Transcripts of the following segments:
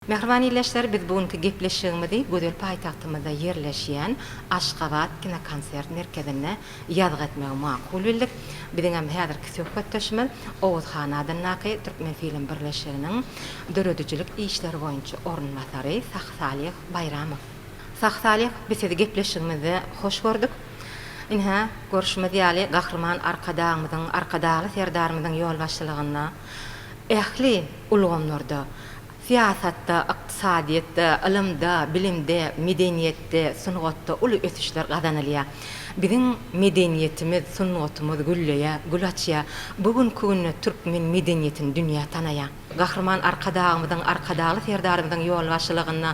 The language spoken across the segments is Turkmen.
Mähriban ildeşler, biz bu günki gepleşigimizi gözel paýtagtymyzda ýerleşýän Aşgabat kinokonsert merkezinde ýazgy etmegi makul bildik. Biziňem häzirki söhbetdeşimiz Oguz han adyndaky Türkmenfilm birleşiginiň döredijilik işleri boýunça orunbasary Sahsalih Baýramow. Sahsalih, biz sizi gepleşigimizde hoş gördük. Ine, görşümiz ýaly, Gahryman Arkadagymyzyň, Arkadagly Serdarymyzyň ýolbaşçylygynda ähli ulgamlarda, syýasatda, ykdysadyýetde, ylymda, bilimde, medeniýetde, sungatda uly ösüşler gazanylýar. Biziň medeniýetimiz, sungatymyz gülleýär, gül açýar. Bu günki günde türkmen medeniýetini dünýä tanaýar. Gahryman Arkadagymyzyň, Arkadagly Serdarymyzyň ýolbaşçylygynda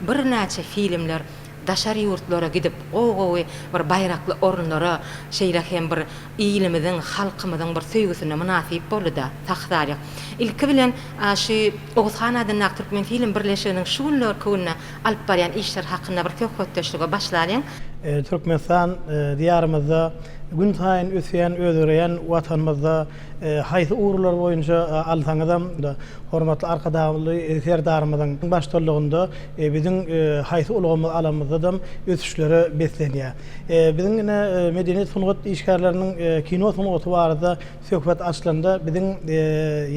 birnäçe filmler daşary ýurtlara gidip, gowy-gowy bir baýrakly orunlara, şeýle hem bir ilimiziň, halkymyzyň bir söýgüsine mynasyp boldy-da, Sahtalyk. Ilki bilen, şu Oguzhan adyndaky Türkmenfilm birleşiginiň şu günlerki günde alyp barýan işleri hakynda bir söhbetdeşlige başlalyň. Türkmenistan Diýarymyzda gün saýyn ösýän, özgereýän Watanymyzda Haýsy ugurlar boýunça alsaňyzam, hormatly Arkadagly Serdarymyzyň baştullugynda biziň haýsy ulgamy alamyzdadam ösüşlere beslenýär. Biziň ine medeniýet-sungat işgärleriniň kino sungaty barada söhbet açylanda, biziň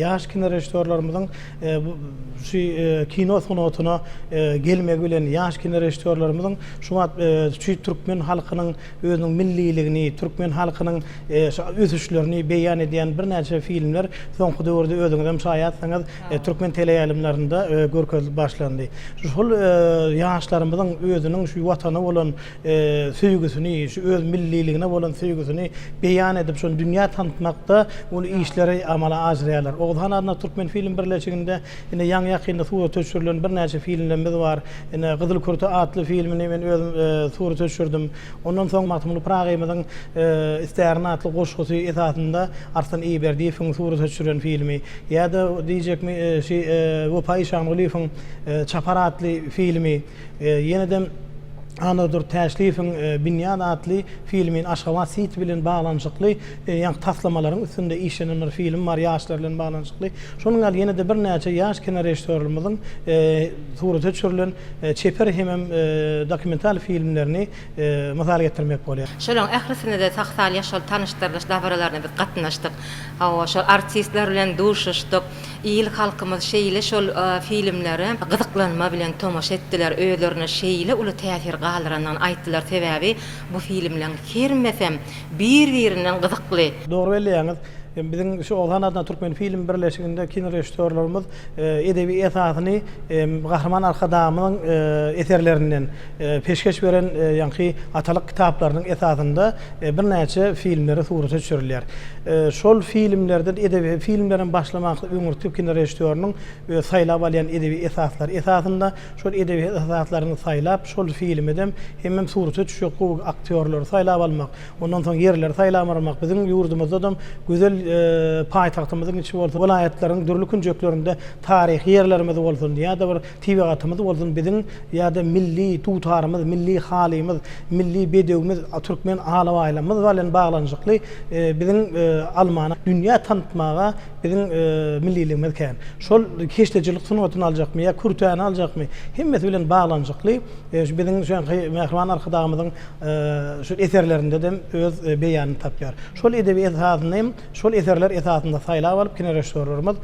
ýaş kinorežissýorlarymyzyň şu kino sungatyna gelmegi bilen, ýaş kinorežissýorlarymyzyň şu wagt şu türkmen halkynyň özüniň milliligini, türkmen halkynyň şu ösüşlerini beýan edýän birnäçe filmler soňky döwürde özüňizem şaýatsyňyz, türkmen teleýaýlymlarynda görkezilip başlandy. Şol ýaşlarymyzyň özüniň şu Watana bolan söýgüsini, şu öz milliligine bolan söýgüsini beýan edip, şony dünýä tanatmakda uly işleri amala aşyrýarlar. Oguzhan adyndaky Türkmenfilm birleşiginde Ine, ýaňy-ýakynda surata düşürilen birnäçe filmlerimiz bar. Ine, Gyzyl kürte atly filmini men özüm surata düşürdim. Ondan soň Magtymguly Pyragyymyzyň Istärin atly goşgusy esasynda Arslan Eýberdiýewiň surata düşüren filmi, ýa-da diýjekmi, şu Wepa Işangulyýewiň Çapar atly filmi. Ýeneden Annadur Täşliýewiň Binýat atly filmin Aşgabat City bilen baglanyşykly ýa taslamalaryň üstünde işlenen bir film bar ýaşlar bilen baglanyşykly. Şonuň ýaly ýene-de birnäçe ýaş kinorežissýorlarymyzyň surata düşürilen çeper hemem dokumental filmlerini mysal getirmek bolýar. Şolaryň ählisine-de Saksal ýaşuly tanyşdyrylyş dabaralaryna biz gatnaşdyk. Hawa, şol artistler bilen duşuşdyk. Il halkymyz şeýle şol filmlere gyzyklanma bilen tomaşa etdiler, özlerinde şeýle uly täsir galdyrandygyny aýtdylar, sebäbi bu filmleriň hermesem bir birinden gyzykly. Dogry belleýäňiz. Biziň şu Oguzhan adynda Türkmen film birleşiginde kinorežissýorlarymyz edebi esasyny Gahryman Arkadagymyzyň eserlerinden, peşgeş beren ýaňky atalyk kitaplarynyň esasynda Birnäçe filmleri surata düşürilýär. Şol filmlerden edebi filmler hem başlamaklyk öňürti türk kinorežissýorynyň özi saýlap alýan edebi esaslary esasynda, şol edebi esaslaryny saýlap, şol filmedem hemem surata düşjek gowy aktýorlary saýlap almak, ondan soň ýerleri saýlap almak, biziň ýurdumyzdadam gözel paýtagtymyzyň içi bolsun, welaýatlaryň dürli künjeklerinde taryhy ýerlerimiz bolsun, ýa-da bir Tebigatymyz bolsun biziň ýa-da milli dutarymyz, milli halymyz, milli bedewimiz, türkmen alabaýlarymyz bilen baglanyşykly biziň almany dünýä tanatmaga biziň milliligimiz kän. Şol keşdeçilik sungatyny aljakmy ýa kürtäni aljakmy, hemmesi bilen baglanyşykly şu biziň şu ýanky mähriban Arkadagymyzyň şu eserlerinde hem öz beýanyny tapýar. Şol edebi esasyny hem Şol eserler esasynda saýlap alyp, kinorežissýorlarymyz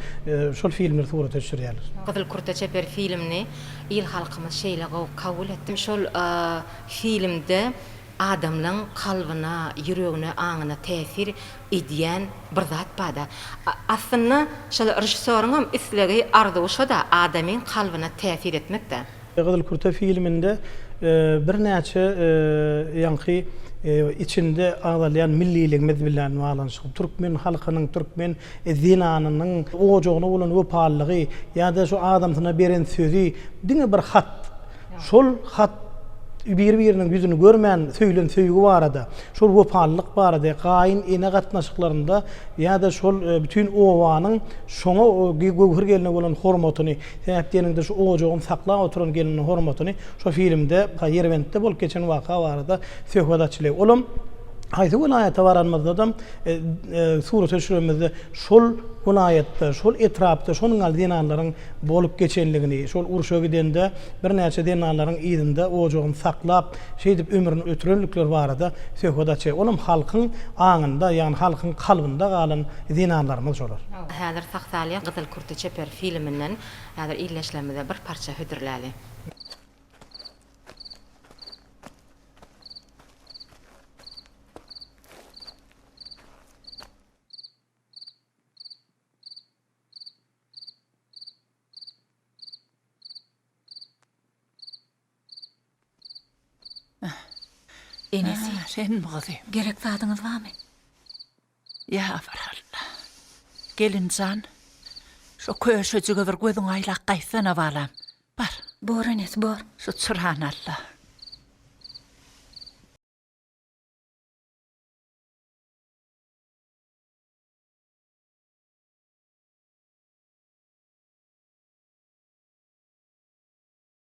şol filmleri surata düşürýärler. Gyzyl kurta çeper filmini il-halkymyz şeýle gowy kabul etdi. Şol filmde adamlaň kalbyna, ýüregine, aňyna täsir edýän bir zat bar-da. Aslynda şol režissýoryňam islegi, arzuwy şo-da, adamyň kalbyna täsir etmek-dä. Gyzyl kürte filminde birnäçe ýaňky içinde agzalýan milliligimiz bilen baglanyşykly, türkmen halkynyň, türkmen zenanynyň ojagyna bolan wepalylygy ýa-da şu adamsyna beren sözi, diňe bir hat, şol hat bir-biriniň ýüzüni görmän söýlen söýgi barada, şol wepalylyk barada, gaýyn-ene gatnaşyklarynda ýa-da şol bütin obanyň şoňa, göwher gelne bolan hormatyny Sähet diýeniňde şu ojagyny saklap oturan gelniň hormatyny şo filmde Ýerbentde bolup geçen waka barada söhbet açyly. Olam haýsy welaýata baranymyzdadam surata düşürenimizde şol welaýatda, şol etrapda şonuň ýaly zenanlaryň bolup geçenligini, şol urşa gidende birnäçe zenanlaryň yzynda ojagyny saklap, şeýdip ömrüni ötürendikleri barada söhbet açy. Olam halkyň aňynda, ýagny halkyň kalbynda galan zenanlarymyz şolar. Häzir sag-salýa gyzyl Ýurtda çeper filminden häzir ildeşlerimize bir parça hödürläli. Enesi. Ä, senmi gyzym? Gerek zadyňyz barmy? Ýa, barhalla. Gelin jan, şo köşejige bir gözüňi aýlap gaýtsana, balam. Bar. Bor, enesi, bor. Şu çyrany al-da.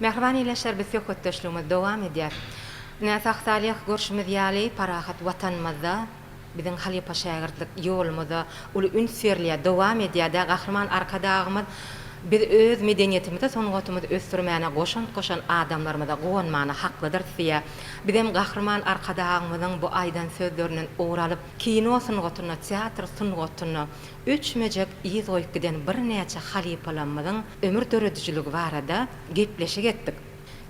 Mähriban ildeşler biz söhbetdeşligimiz dowam edýär. Ine Sag Salyh görşümiz ýaly parahat watanymyzda biziň halypa şägirtlik ýolumyza uly üns berilýär, dowam edýär-dä Gahryman Arkadagymyz biz öz medeniýetimize sungatymyzy ösdürmäne goşant goşan adamlarymyza guwanmana haklydyr siýe bizem Gahryman Arkadagymyzyň bu aýdan sözlerinden ugur alyp kino sungatyna teatr sungatyna Öçmejek yz goýup giden birnäçe halypalarymyzyň ömür döredijiligi barada gepleşik etdik.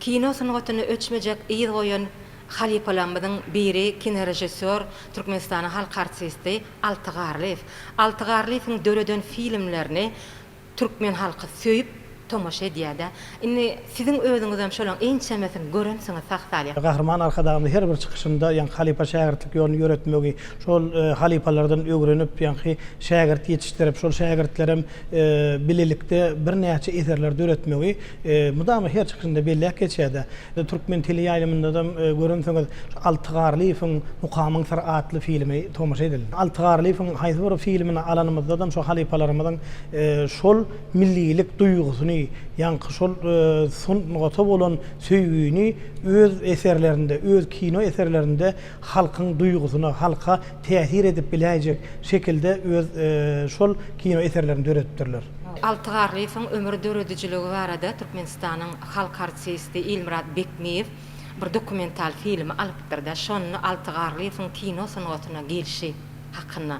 Kino sungatyna öçmejek yz goýan halypalarymyzyň biri kinorežissýor, Türkmenistanyň halk artisti Alty Garlyýew. Alty Garlyýewiň döreden filmlerini Türkmen halky söýüp tomaşa edýädä. Indi siziň özüňizem şolaň ençemesini görensiňiz sag-salyh. Gahryman Arkadagymyz her bir çykyşynda ýaňky halypa-şägirtlik ýoluny ýöretmegi, şol halypalardan öwrenip, ýaňky şägirt ýetişdirip, şol şägirtlerem bilelikde birnäçe eserler döretmegi mydama her çykyşynda belläp geçýär-de. Türkmen teleýaýlymyndadam görensiňiz, şu Alty Garlyýewiň Mukamyň syry atly filmi tomaşa edildi. Alty Garlyýewiň haýsy bir filmini alanymyzdadam şo halypalarymyzyň Şol millilik duýgusyny, ýaňky şol sungata bolan söýgini öz eserlerinde, öz kino eserlerinde halkyň duýgusyna, halka täsir edip biläýjek şekilde öz şol kino eserlerini döredipdirler. Alty Garlyýewiň ömür döredijiligi barada Türkmenistanyň halk artisti Ilmyrat Bekmiýew bir dokumental filmi alypdyr-da, şonda Alty Garlyýewiň kino sungatyna gelşi, hakynda,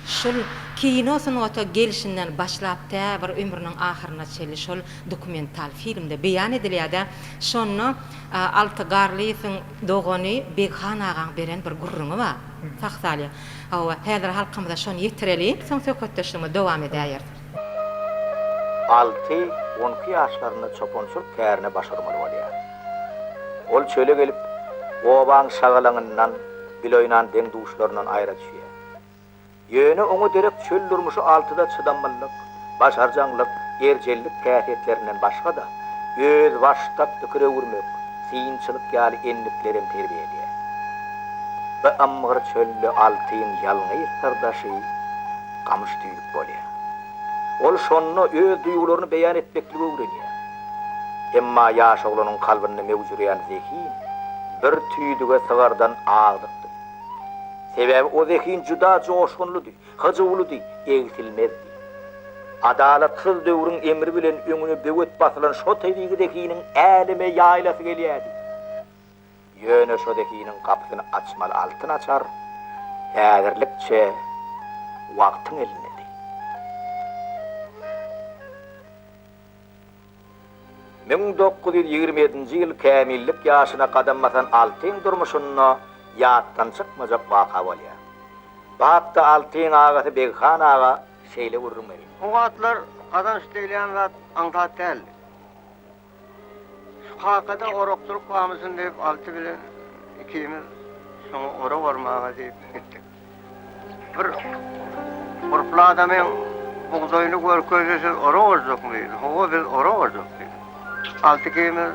şol kino sungata gelşinden başlap tä bir ömrüniň ahyryna çenli şol dokumental filmde beýan edilýär-de, şonda Alty Garlyýewiň dogany Beghan agaň beren bir gürrüňi bar. Sah salýa. Hawa, häzir halkymyza şony ýetireliň, soň söhbetdeşligimizi dowam edäýeris. Alty on iki ýaşlarynda çopançylyk kärine baş urmaly bolýar. Ol çöle gelip, obaň şagalaňyndan, bil oýnan deň-duşlaryndan aýra düşýär. Ýöne oňa derek çöl durmuşy altyda çydamlylyk, başarjaňlyk, erjellik häsiýetlerinden başga-da, özbaşdak pikir öwürmek, synçylyk ýaly endiklerem terbiýe edýär. Bi ymgyr çölde altyň ýalňyz syrdaşy gamyş tüýlük bolýar. Ol şonda öz duýgularyny beýan etmekligi öwrenýär. Emma ýaş oglanyň kalbynda möwjüreýän zehin bir tüýdüge sygardan agdykdy. Sebäbi o zehin juda joşgunlydy, hyjuwlydy, egsilmezdi. Adalatsyz döwrüň emri bilen öňüne böwet basylan şo tebigy zehiniň äleme ýaýlasy gelýärdi. Ýöne şo zehiniň gapysyny açmaly altyn açar häzirlikçe wagtyň elindedi. Müň dokuz ýüz ýigrimi ýedinji ýyl kämillik ýaşyna gadam basan Altyň durmuşynda ýatdan çykmajak waka bolýar. Bapda Altyň agasy Beghan aga şeýle gürrüň berýär. O wagtlar gazanç diýilýän zat aňsat däldi. Şu kakada orakçylyk bamyşyn diýip Alty bilen ikimiz şoňa orak ormaga diýip gitdik. Bir gurply adamyň bugdaýyny görkezdi, siz ora barjakmy diýdi. Hawa, biz ora barjak diýdi. Alty ikimiz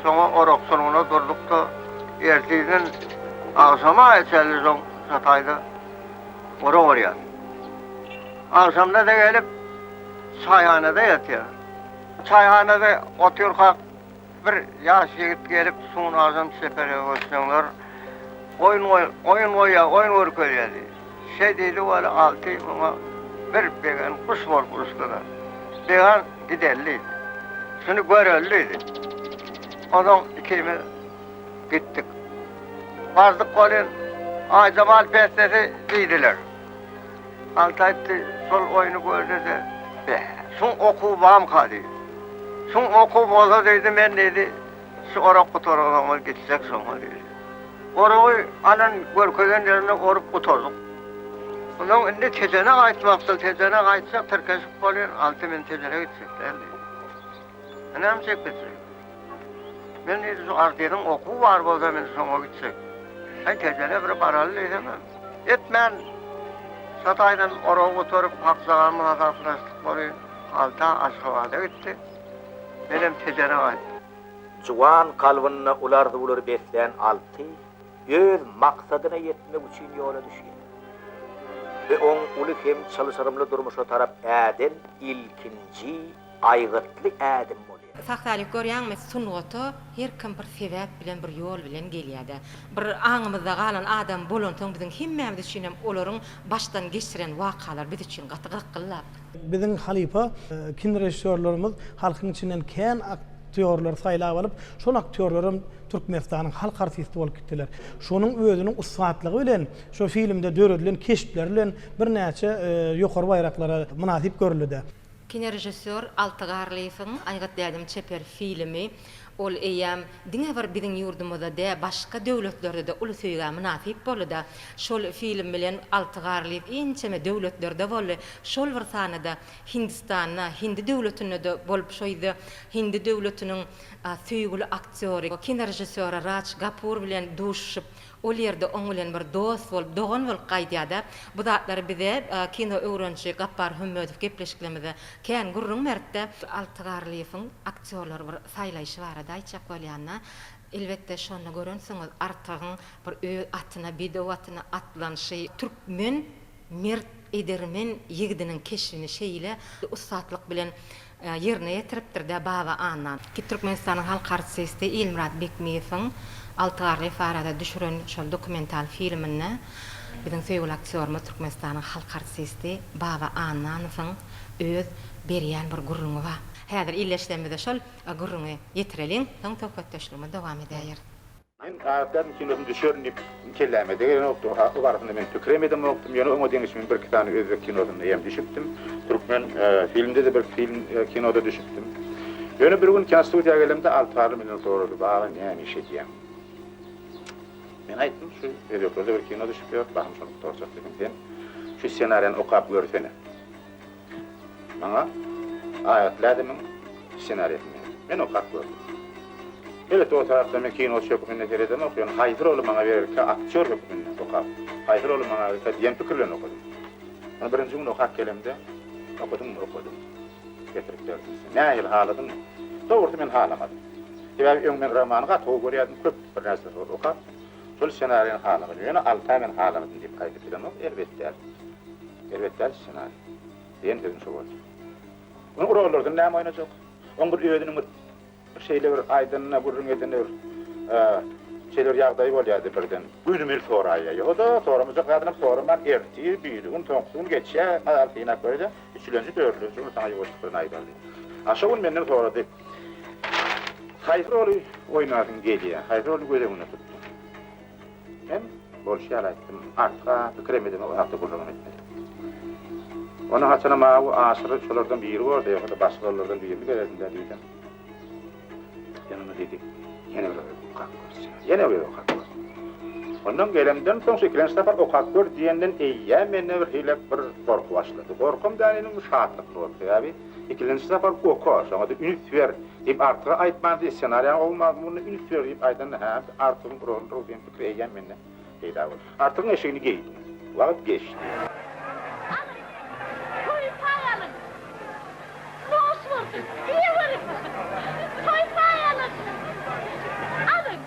şoňa orak sulgyna durduk-da, ertirden agşama çenli şo şataýda ora barýas. Agşamda-da gelip, çaýhanada ýatýas. Çaýhanada oturkak, Bir ýaş ýigit gelip Sunardan çeperege göçseňler oýun oýun goýýa oýun görkezýä diýdi. Şeý diýdi weli Alty muňa bir begen guş bolup uçdyda. Began gideli diýdi. Şuny göreli diýdi. Ozaň ikimiz gitdik. Bardyk welin Aýjabal bestesi diýdiler. Alty aýtdy, şol oýny görde-de, be, şuň okuwy bamyka diýdi. Şuň okuwy bolsa diýdi, men diýdi, şu orak gutaran soňlar gitsek şoňa diýdi. Oragy alan görkezen ýerinde orup gutardyk. Onsoň indi Tejene gaýtmakçyl, Tejene gaýtsak tirkeşip bolýar, Alty men Tejene gitjek däl diýdi. Ynam çekilse. Men diýdi şu artediň okuw bar bolsa men şoňa gitjek. Sen kejene bir baraly diýdim. Etmän Şataýdan oraw oturyp hakjagam hasaplaşdyk bary alta Aşgabada gitdi. Menem kejene gaýtdym. Juwan kalbynda uly arzuwlary beslän Alty öz maksadyna ýetmek üçin ýola düşýär. Bu oň uly hem çylşyrymly durmuşa tarap äden ilkinji aýgytly ädim bolýar. Saksary görýäňmi sungata her kim bir sebäp bilen bir ýol bilen gelýädä. Bir aňymyzda galan adam bolansoň biziň hemmämiz üçinem olaryň başdan geçiren wakalary biz üçin gaty gyrkyldak. Biziň halypa kinorežissýorlarymyz halkyň içinden kän aktýorlary saýlap alyp, şol aktýorlaram Türkmenistanyň halk artisti bolup gitdiler. Şonuň özüniň ussatlygy bilen, şo filmde döredilen keşpleri bilen birnäçe ýokary baýraklara mynasyp görüldidä. Kinorežissýor Alty Garlyýewiň Aýgyt dädem çeper filmi, ol eýýäm diňe bir biziň ýurdumyzda dä, başga döwletlerde-de uly söýgä mynasyp boldy-da. Şol film bilen Alty Garlyýew ençeme döwletlerde boldy, şol bir sanda-da Hindistanda, Hindi döwletinde-de bolup şoýdy. Hindi döwletiniň söýgüli aktýory, kinorežissýory Raç Gapur bilen duşuşyp, Ol ýerde oň bilen bir dost bolup, dogan bolup gaýdýar-da. Bu zatlary bize kino öwrenişi Gapbar Hömmedow gepleşiklerimizde kän gürrüň beripdi. Alty Garlyýewiň aktýorlary bir saýlaýşy barada aýtjak bolýanda, elbetde, şonda görensiňiz, Artygyň bir öz atyna, bedew atyna atlanyşy, türkmen mert edermen ýigdiniň keşbini şeýle ussatlyk bilen ýerine ýetiripdir-dä Baba Annan. Ki Türkmenistanyň halk artisti Ilmyrat Bekmiýewiň Alty garry Faraza düşüren şol dokumental filminde biziň söýgüli aktýorymyz Türkmenistanyň halk artisti Baba Annanowyň öz berýän bir gürrüňi bar. Häzir illeşsemizde şol gürrüňi ýetireliň, soň söhbetdeşligimizi dowam edäýeris. Men Agatýazyň kinosyny düşerin diýip kelläme degenokdy. O barasynda men pikirem edemokdym. Ýöne oňa deňiş men birki sany özbek kinosynda hem düşüpdim. Türkmen filmde-de birki film, kinoda düşüpdim. Ýöne bir gün kinostudiýa gelemde Altynarly menden sorady, Baba, näme iş edýäň? Men aýtdym, şu özbeklerde bir kino düşüp ýör, bahym şony gutarjak diýdim. Sen şu ssenariýany okap görsene. Maňa Aýatly ädimiň ssenariýasyny ber. Men okap gördüm. Elbetde, o tarapda men kinoçy hökmünde seredemok, ýöne haýsy roly maňa bererkä aktýor hökmünde okap, haýsy roly maňa bererkä diýen pikir bilen okadym. Ony birinji gün okap gelemde, Okadyňmy? Okadym. Getirip berdim size. Nähili, haladyňmy? Dogrusy, men halamadym. Sebäbi öň men romany gaty gowy görýärdim, köp bir närseleri okap, Şol ssenariýany halamadym. Ýöne Altaý men halamdym diýip gaýdyp bilemok, erbet däl. Erbet däl ssenariý. Diýen sözüm şo boldy. Ony urarlardan näme oýnajak? Oň bir özüniň bir şeýle bir aýdanyna, gürrüň edene bir şeýle bir ýagdaýy bolýardy birden. Günümi-l soraýýar. Ýo-da, soramajak zadynam soraman, ertir, biri gün, soňky gün geçýär, aýal synap görýär-de, üçülenji, dördülenji gün saňa ýuwaşlyk bilen aýdardy. A şo gün menden sorady. Haýsy roly oýnarsyň gelýär? Haýsy roly göz öňünde tutduň? Men bolşy ýaly aýtdym. Artyk-a pikirem edemok, o hakda gürrüňem etmedim. Ony haçanam awy aşyry şolardan biri boldy, ýogsa-da başga rollardan birini bererdin-dä diýdim. Ýöne ony diýdi, ýene bir gezek okap görse. Ýene bir gezek okap gör. Ondan gelemden soň, şu ikilenji sapar okap gör diýenden eýýäm mende birhili bir gorky başlady. Gorkam däl indi, şatlyk boldy. Sebäbi. Ikilenji sapar oka, şoňa-da üns ber, diýip Artyga aýtmandy, ssenariýaň gowy mazmunyna üns ber diýip aýdanda hä, biz Artygyň uragyndyrys diýen pikir eýýäm mende peýda boldy. Artygyň eşigini geýdim. Wagt geçdi. Alyň, toý paý alyň! Noş bolsun! Diýeweriň! Toý paý alyň! Alyň!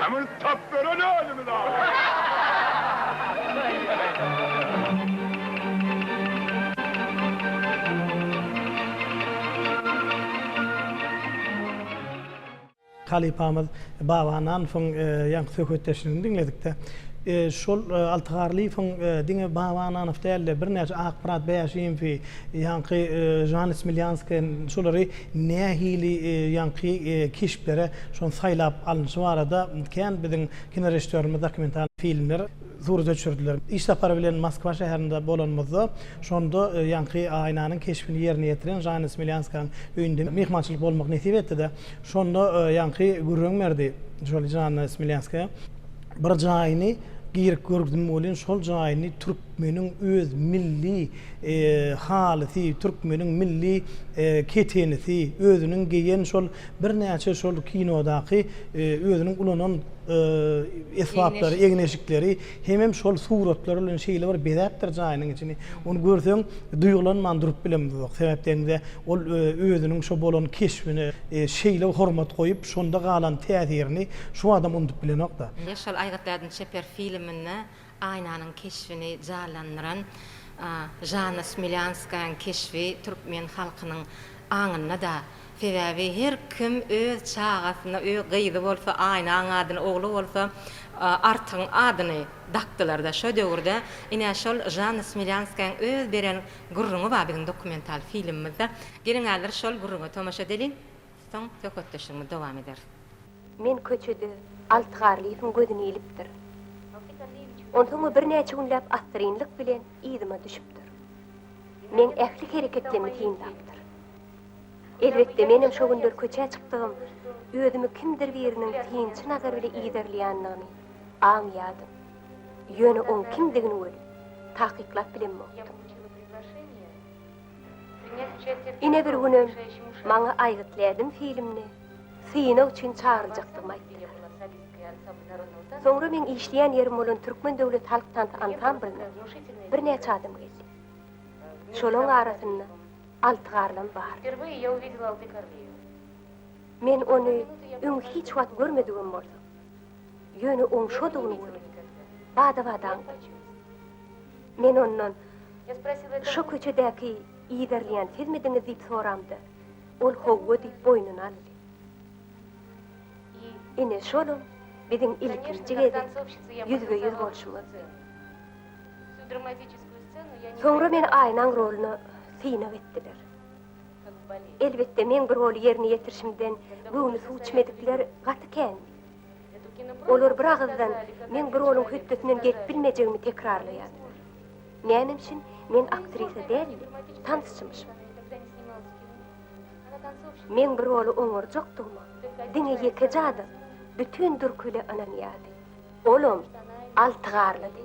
Hem ony tapberen özümiz ahyryn. Halypamyz Baba Nanowyň ýaňky söhbetdeşligini diňledikde, şol Alty Garlyýewiň diňe Baba Nanow däl-de, birnäçe Akmyrat Bäşimowy, ýaňky Žan Smelýanskiý, şolary nähili ýaňky keşplere şony saýlap alnyşy barada kän biziň kinorežissýorymyz dokumental filmler surata düşürdiler. Iş sapary bilen Moskwa şäherinde bolanymyzda, şonda ýaňky Aýnanyň keşbini ýerine ýetiren Žana Smelýanskanyň öýünde myhmançylyk bolmak nesip etdi-de, şonda ýaňky gürrüň berdi şol Žana Smelýanskaýa. Bir jaýyny girip görgzüm welin şol jaýyny türkmeniň öz milli halysy, türkmeniň milli ketenisi, özüniň geýen şol birnäçe şol kinodaky özüniň ulanan esbaplary, egin-eşikleri hemem şol suratlar bilen şeýle bir bezäpdir jaýynyň içini. Ony görseň duýgulanman durup bilemizok. Sebäp degiňde ol özüniň şo bolan keşbine şeýle hormat goýup, Şonda galan täsirini şu adam unudyp bilenok-da. Ýaşaly Aýgytladyn çeper filminde Aýnanyň keşbini janlandyran Žanna Smilýanskaýaň keşbi türkmen halkynyň aňynda-da. Sebäbi her kim öz çagasyna, öý gyzy bolsa Aýnaň adyny, ogly bolsa Artygyň adyny dakdylar-da. Şo döwürde ine şol Žanna Smilýanskaýaň öz beren gürrüňi bar biziň dokumental filmimizde. Geliň häzir şol gürrüňe tomaşa edeliň. Soň söhbetdeşligimizi dowam ederis. Men köçede Alty Garlyýewiň gözüni ilipdir. Onsoň o birnäçe günläp assyrynlyk bilen yzyma düşüpdir. Meň ähli hereketlerimi synlapdyr. Elbetde, menem şo günler köçä çykdygym, özümi kimdir biriniň synçy nazary bile yzarlaýandygyny aňýardym. Ýöne oň kimdigini welin, takyklap bilenmokdym. Ine bir günem maňa Aýgyt Lädim filmini synag üçin çagyrjakdygymy aýtdylar. Soňra meň işleýän ýerim bolan Türkmen döwlet halk tansy ansamblyna birnäçe adam geldi. Şolaň arasynda Altygarlam bardy. Men ony öň hiç wagt görmedigim bolsa, ýöne oň şodugyny görüp, bada-bada aňdym. Men ondan, Şo köçedäki ýerleýän sizmidiňiz diýip soramda, ol howwa diýip boýnuny aldy. Ine, şolam biziň ilkinji gezek ýüzbe-ýüz bolşumyzdy. Soňra meni Aýnaň roluna synag etdiler. Elbetde, meň bu roly ýerine ýetirişimden göwni suw içmedikler gaty kändi. Olar bir agyzdan meň bir onuň hötdesinden gelip bilmejegimi tekrarlaýardylar. Näme üçin men aktrisa däl-de, tansçymyşym? Meň bir oly oňarjakdygyma diňe ýekeje adam bütin Dürküli ynanýardy. Olam Altygarlydy.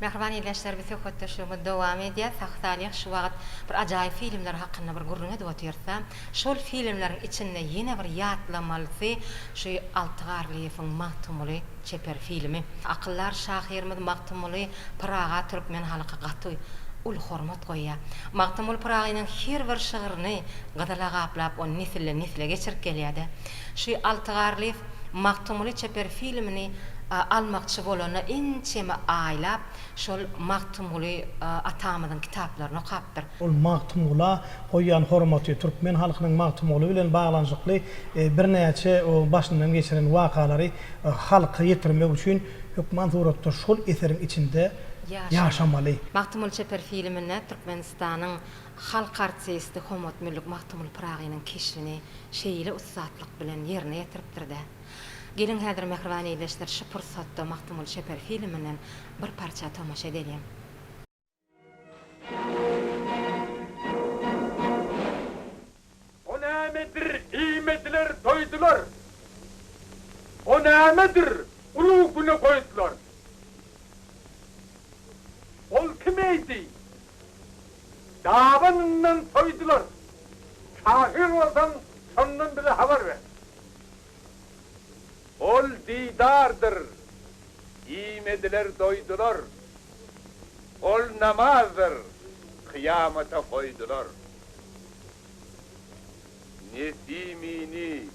Mähriban ildeşler biz söhbetdeşligimiz dowam edýär. Sahy Salyh şu wagyt bir ajaýyp filmler hakynda bir gürrüň edip otyrsa, şol filmleriň içinde ýene bir ýatlamalysy şu Alty Garlyýewiň Magtymguly çeper filmi. Akyldar şahyrymyz Magtymguly Pyraga türkmen halky gaty uly hormat goýýar. Magtymguly Pyragynyň her bir şygryny gyzyla gaplap ony nesilden nesle geçirip gelýärdi. Şu Alty Garlyýew Magtymguly çeper filmini almakçy bolanda ençeme aýlap şol Magtymguly atamyzyň kitaplaryny okapdyr. Ol Magtymgula goýýan hormaty, türkmen halkynyň Magtymguly bilen baglanyşykly birnäçe başyndan geçiren wakalary halka ýetirmek üçin hökman suratda şol eseriň içinde ýaşamaly. Magtymguly çeper filminde Türkmenistanyň Halk artisti Hommat Müllik Magtymguly Pyragynyň keşbini şeýle ussatlyk bilen ýerine ýetiripdir-de. Geliň häzir mähriban ildeşler şu pursatda Magtymguly Çeper filminden bir parça tomaşa edeliň. O nämedir, iýmediler, doýdular. O nämedir, ulag güne goýdular. Ol kim eýdi, dabanyndan soýdular. Şahyr bolsaň, şondan bize habar ber. Ol didardyr, iýmediler, doýdular. Ol namazdyr, kyýamata goýdular. Nesimini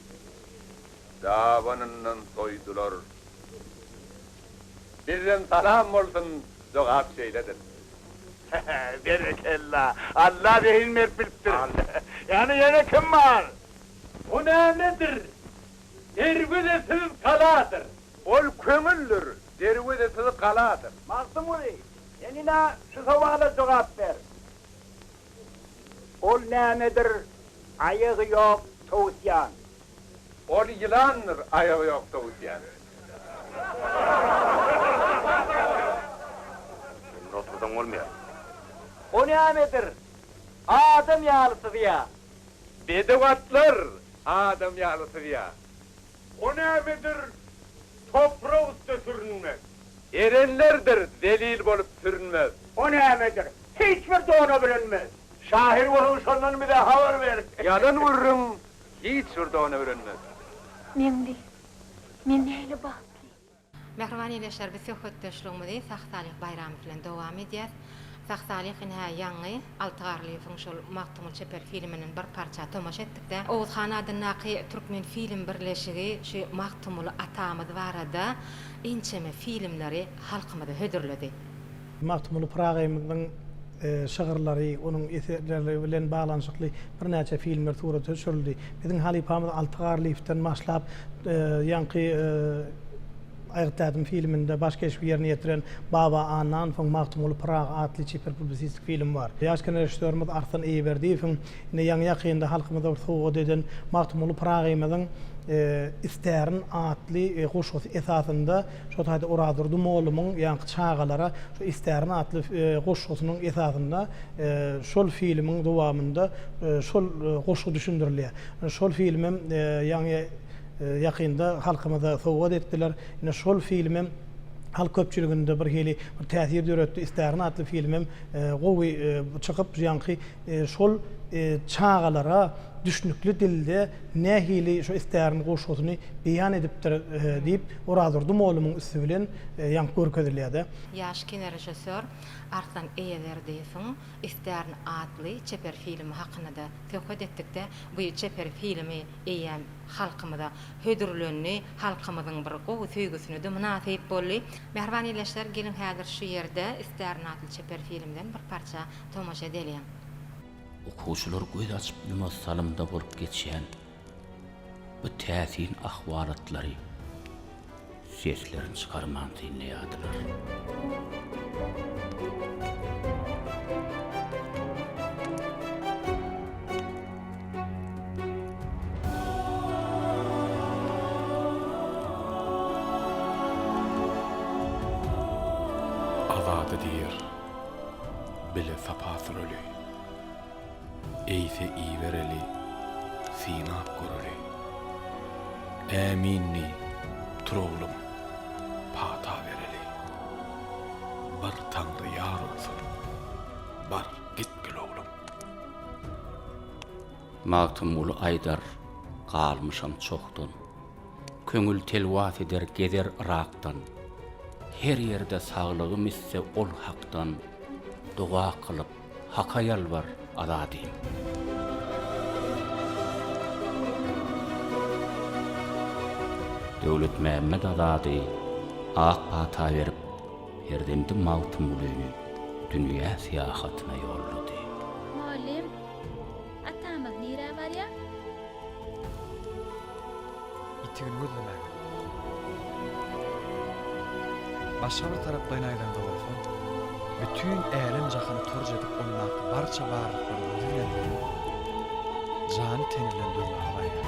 dabanyndan soýdular. Bizden salam bolsun jogap şeýledir. Berekella! Alla zehin berip bilipdir. Ýagny ýene kim bar? Bu nämedir? Derwezesiz galadyr. Ol köňüldir. Derwezesiz galadyr. Magtymguly, sen ine şu sowala jogap ber. Ol nämedir, aýagy ýok towusýan. Ol ýylandyr, aýagy ýok towusýan. Ýerinde otursaň bolmaýar. O nämedir, adam ýaly syzýar. Bedew atlar adam ýaly syzýar. O nämedir toprak üste sürünmek. Erenlerdir zelil bolup sürünmez. O nämedir hiç bir dona bürenmez. Şahyr bolsaň şondan bize habar ber. Ýalan gürrüň hiç bir dona bürenmez. Meňli, men nähili bagtly. Mähriban ildeşler biz söhbetdeşligimizi Sag Salyh Baýramow bilen dowam edýäs. Sag Salyh ine-hä ýaňy Alty Garlyýewiň şol Magtymguly çeper filminden bir parça tomaşa etdikdä. Oguzhan adyndaky Türkmen film birleşigi şu Magtymguly atamyz barada ençeme filmleri halkymyza hödürledi. Magtymguly Pyragyymyzyň şygyrlary, onuň eserleri bilen baglanyşykly birnäçe filmler surata düşürildi. Biziň halypamyz Alty Garlyýewden başlap, ýaňky Aýgyt Dädem filminde baş keşbi ýerine ýetiren Baba Annan, soň Magtymguly Pyragy atly çeper publisistik film bar. Ýaş kinorežissýorymyz Arslan Eýeberdiýewiň indi ýaňy-ýakynda halkymyza bir sowgat eden Magtymguly Pyragyýmyzyň Istärin atly goşgusy esasynda Şol taýda Orazurdy mollumyň ýaňky Çagalara şu istärin atly goşgusynyň esasynda şol filmiň dowamynda şol goşgy düşündirilýär. Şol film hem ýaňy ýakynda halkymyza sowgat etdiler. Ine şol film hem halk köpçüliginde birhili bir täsir döretdi. Istärin atly film hem gowy çykyp, ýaňky şol Çagalara düşnükli dilde nähili şu istäriň goşgusyny beýan edipdir diýip, Orazurdy mollumyň üsti bilen ýaňyp görkezilýär-de. Ýaş kinorežissýor Arslan Eýeberdiýewiň Istärin atly çeper filmi hakynda-da söhbet etdikde, bu çeper filmi eýýäm halkymyza hödürlendi, halkymyzyň bir gowy söýgüsine-de mynasyp boldy. Mähriban ildeşler, geliň häzir şu ýerde Istärin atly çeper filmden bir parça tomaşa edeliň. Okuwçylar göz açyp-ýumas salymda bolup geçýän bu täsin ahwalatlary seslerini çykarman synlaýardylar. Bile sapasyn öli. Eýse ibereli, synap göreli. Ämin diý, tur oglum, pata bereli. Bir Taňry ýar bolsun, bar, git gel oglum. Magtymguly aýdar, galmyşam çohdan. Köňül telwas eder gezer Yrakdan. Her ýerde saglygym isse ol Hakdan. Doga kylyp, Haka ýalbar, azadym. Döwletmämmet Azady ak pata berip, perzendi Magtymgulyny dünýä syýahatyna ýollady. Mugallym. Atamyz nirä barýar? Ýitigini gözlemäge. Başga bir taraplaýyn aýdanda bolsa, bütin älem-jahany torj edip ondaky barça barlyklary özi bilen dörän, jany-teni bilen dörmäge barýar.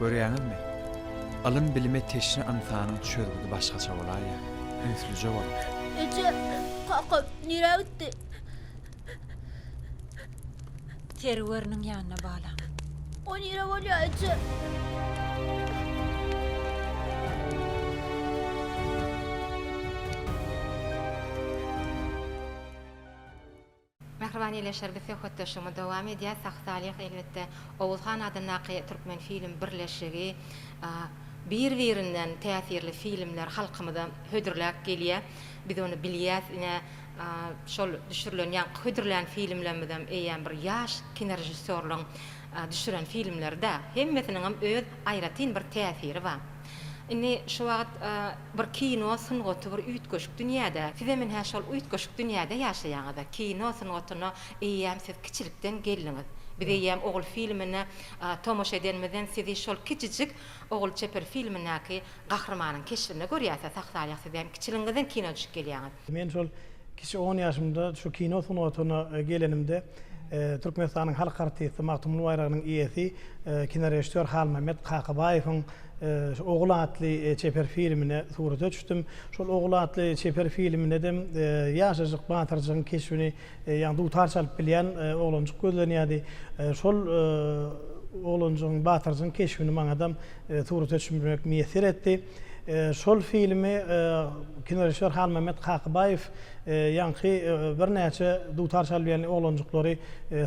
Görýäňizmi? Ylym-bilime teşne ynsanyň çözgüdi başgaça bolaýýar, ünslüje bolup. Eje, kakam nirä gitdi? Serweriniň ýanyna balam. O nirä bolýar, eje? Mähriban ýeleşer biz söhbetdeşligimiz dowam edýäs sag salyh elbetde Oguz han adyndaky Türkmenfilm birleşigi bir birinden täsirli filmler halkymyza hödürläp gelýä biz ony bilýäs ine şol düşürilen ýaňky hödürlän filmlerimizem eýýäm bir ýaş kinorežissýorlaň düşüren filmlerida hemmesiniňem öz aýratyn bir täsiri bar. Indi şu wagt bir kino sungaty bir üýtgeşik dünýäde. Sizem ine şol üýtgeşik dünýäde ýaşaýaňyz-a. Kino sungatyna eýýäm siz kiçilikden geldiňiz. Biz eýýäm Ogul filmine tomaşa edenimizden sizi şol kiçijik Ogul çeper filmindäki gahrymanyň keşbinde görýäs-ä, sah-salýak sizem kiçiligiňizden kino düşüp gelýäňiz. Men şol kiçi on ýaşymda şu kino sungatyna gelenimde Türkmenistanyň halk artisti, Magtymguly baýragynyň eýesi, kinorežissýor Halmämmet Kakabaýewiň şu Ogul atly çeper filmine surata düşdüm. Şol Ogul atly çeper filmindem ýaşajyk batyrjygyň keşbini, ýagny dutar çalyp bilýän oglanjyk gözlenýärdi. Şol oglanjygyň, batyrjygyň keşbini maňadam surata düşmek miýesser etdi. Şol filmi kinorežissýor Halmämmet Kakybaýew ýaňky birnäçe dutar çalyp ýören oglanjyklary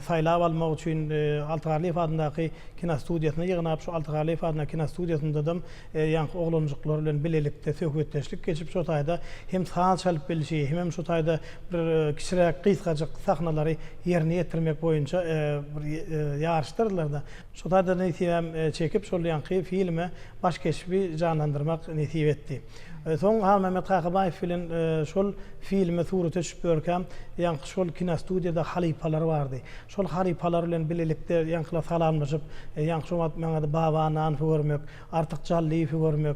saýlap almak üçin Alty Garlyýew adyndaky kinostudiýasyna ýygnap, şu Alty Garlyýew adyndaky kinostudiýasyndadam ýaňky oglanjyklar bilen bilelikde söhbetdeşlik geçip, şo taýda hem saz çalyp bilşi, hemem şo taýda bir kiçiräk gysgajyk sahnalary ýerine ýetirmek boýunça bir ýaryşdyrdylar-da. Şo taýda nesibäm çekip, şol ýaňky filme baş keşbi janlandyrmak nesip etdi. Soň Halmämmet Kakabaýew bilen şol filme surata çykyp ýörkä, ýaňky şol kinostudiýada halypalar bardy. Şol halypalar bilen bilelikde ýaňkylar salamlaşyp, ýaňky şo wagt maňada Baba Ananowy görmek, Artyk Jallyýewi görmek,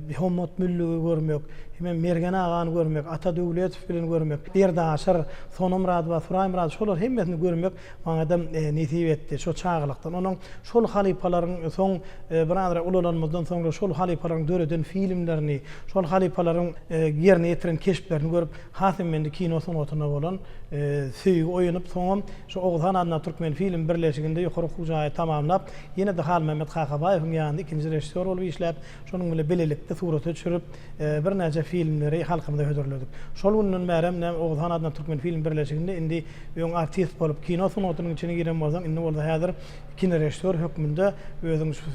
Bihommat Müllügi görmek, himem Mergen agany görmek, Ata Döwletow bilen görmek, Berdi Aşyr, Sonamyradowa, Suraýmyradow şolaryň hemmesini görmek Maňadam nesip etdi. Şo çagalykdan onuň şol halypalaryň soň birazrak ulalanymyzdan soňra şol halypalaryň döreden filmlerini, şol halypalaryň ýerine ýetiren keşplerini görüp has hem mende kino sungatyna bolan söýgi oýanyp soňam şu Oguzhan adyndaky Türkmenfilm birleşiginde ýokary okuw jaýy tamamlap ýene-de Halmämmet Kakabaýewiň ýanynda ikinji režissýor bolup işläp Şonuň bilen bilelikde surata düşürip, birnäçe filmleri halkymyza hödürledik. Şol günden bärem näme Oguzhan adynda Türkmenfilm birleşiginde indi öň artist bolup, kino sungatynyň içine giren bolsaň, indi bolsa häzir kinorežissýor hökmünde özüň şu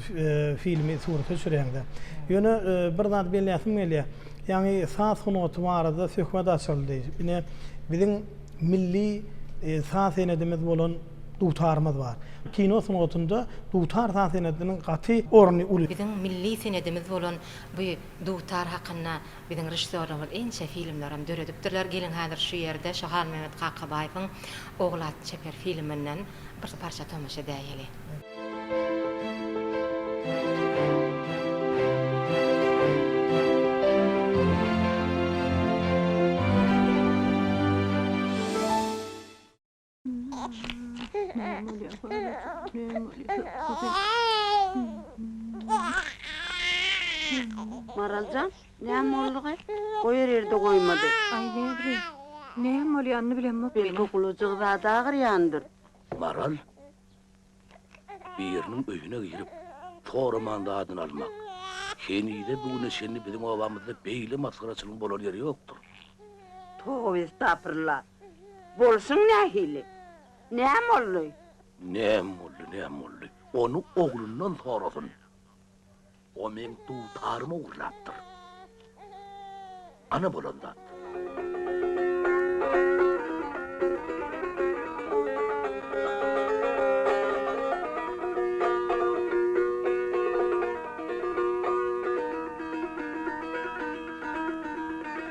filmi surata düşürýäň-dä. Ýöne bir zat belläsim gelýär. Ýaňy saz sungaty barada söhbet açyldy. Ine, biziň milli saz senedimiz bolan. Dutarymyz bar. Kino sungatynda dutar saz senediniň gaty orny uly. Biziň milli senedimiz bolan bu dutar hakynda biziň režissýorlarymyz ençe filmlerem döredipdirler. Geliň häzir şu ýerde Şahalmömet Kakabaýewiň Ogul atly çeper filminden bir parça tomaşa edäýeli. Maraljan näme boldugy goýar ýerde goýmady. Aý nebri näme bolýanyny bilemok meniň. Belki gulajygy zat agyrýandyr. Maral biriniň öýüne girip soraman zadyny almak. Henize bu güne çenli biziň obamyzda beýle masgaraçylygyň bolan ýeri ýokdur. Toba estapyrlah. Bolsun nähili? Näm boldy? Näm boldy, näm boldy? Ony oglundan sorasyn. O meň dutarymy ogurlapdyr. Ana bolan zat.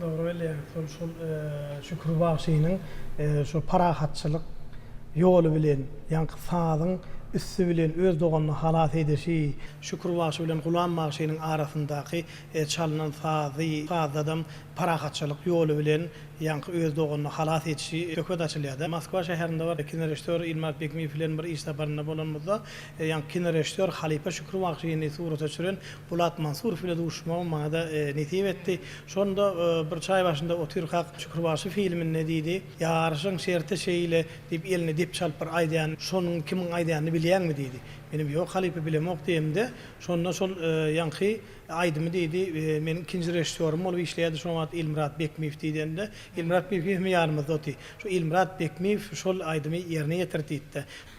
Dogry bilýäň, şol şol Şükür bagşynyň şo parahatçylyk ýoly bilen, ýaňky sazyň üsti bilen öz doganyny halas edişi, Şükür bagşy bilen Gulam bagşynyň arasyndaky çalnan sazy, sazdadam parahatçylyk ýoly bilen ýaňky öz doganyny halas edişi söhbet açylýar-da. Moskwa şäherinde bir kinorežissýor Ilmaz Begmiýew bilen bir iş saparynda bolanymyzda, ýaňky kinorežissýor halypa Şükür bagşyny surata çüren Polat Mansurow bilen duşuşmagym maňa-da nesip etdi. Şonda bir çaý başynda otyrkak, Şükürbaşy filminde diýdi, Ýaryşyň şerti şeýle, diýip, eline depçi alyp bir aýdýan, şonuň kimiň aýdanyny bilýäňmi? diýdi. Menem, Ýok, halypa, bilemok diýemde, şonda şol ýaňky aýdymy diýdi, meniň ikinji režissýorym bolup işleýärdi şo wagt Ilmyrat Bekmiýew diýdende, Ilmyrat Bekmiýew hem ýanymyzda otdy. Şu Ilmyrat Bekmiýew şol aýdymy ýerine ýetirdi diýdi-de.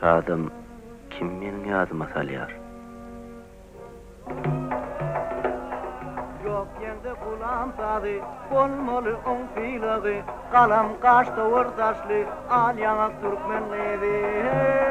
Şadam kim meniň ýadyma salýar. Ýok ýeňde gulam sazy, bolmaly oň sylagy, Galam gaş towar saçly, al ýaňak türkmen gyzy, heý!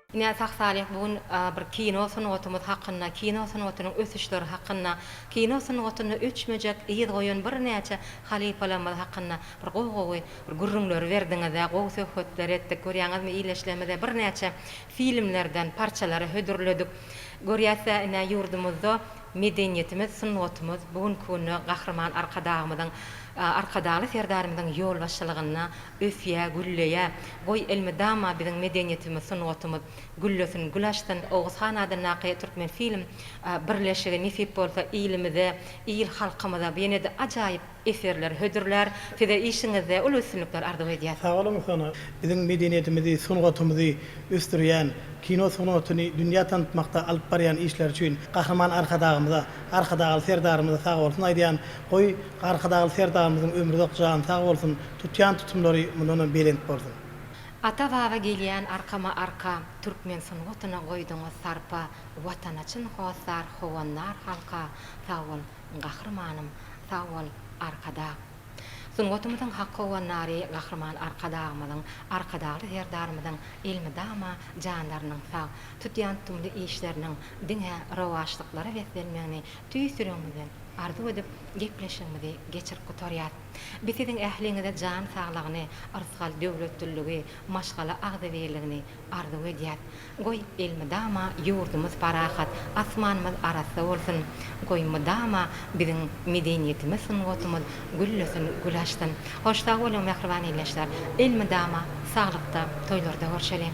Ine, Sag Salyh bu gün bir kino sungatymyz hakynda, kino sungatynyň ösüşleri hakynda, kino sungatynda öçmejek yz goýan birnäçe halypalarymyz hakynda bir gowy-gowy bir gürrüňleri berdiňiz-ä, gowy söhbetler etdik. Görýäňizmi, ildeşlerimize birnäçe filmlerden parçalary hödürledik. Görýäs-ä ine, ýurdumyzda medeniýetimiz, sungatymyz bu günki günde Gahryman Arkadagymyzyň, Arkadagly Serdarymyzyň ýolbaşçylygynda Ösýä, gülleýä. Goý, elmydama biziň medeniýetimiz, sungatymyz güllesin, gül açsyn. Oguz han adyndaky Türkmenfilm birleşigi nesip bolsa ilimize, il-halkymyza ýene-de ajaýyp eserleri hödürlär. Size işiňizde uly üstünlikler arzuw edýäs. Sag boluň Sana. Biziň medeniýetimizi, sungatymyzy ösdürýän, kino sungatyny dünýä tanatmakda alyp barýan işleri üçin Gahryman Arkadagymyza, Arkadagly Serdarymyza sag bolsun aýdýan. Goý, Arkadagly Serdarymyzyň ömri uzak, jany sag bolsun. Tutýan tutumlary mundanam belent bolsun. Ata baba gelýän arkama arka Türkmen sungatyna goýduňyz sarpa Watana çyn hossar howandar halka Sag bol Gahrymanym sag bol Arkadag Sungatymyzyň hak howandary Gahryman Arkadagymyzyň Arkadagly Serdarymyzyň elmydama janlarynyň sag tutýan tutumly işleriniň diňe rowaçlyklara beslenmegini tüýs ýüregimizden arzuw edip gepleşigimizi geçirip gutarýas. Biz siziň ähliňize jan saglygyny, yrsgal döwletliligi, maşgala agzybirligini arzuw edýäs. Goý, elmydama ýurdumyz parahat, asmanymyz arassa bolsun! Goý, mydama biziň medeniýetimiz, sungatymyz güllesin, gül açsyn! Hoş sag boluň, mähriban ildeşler! Elmydama saglykda, toýlarda görşeliň!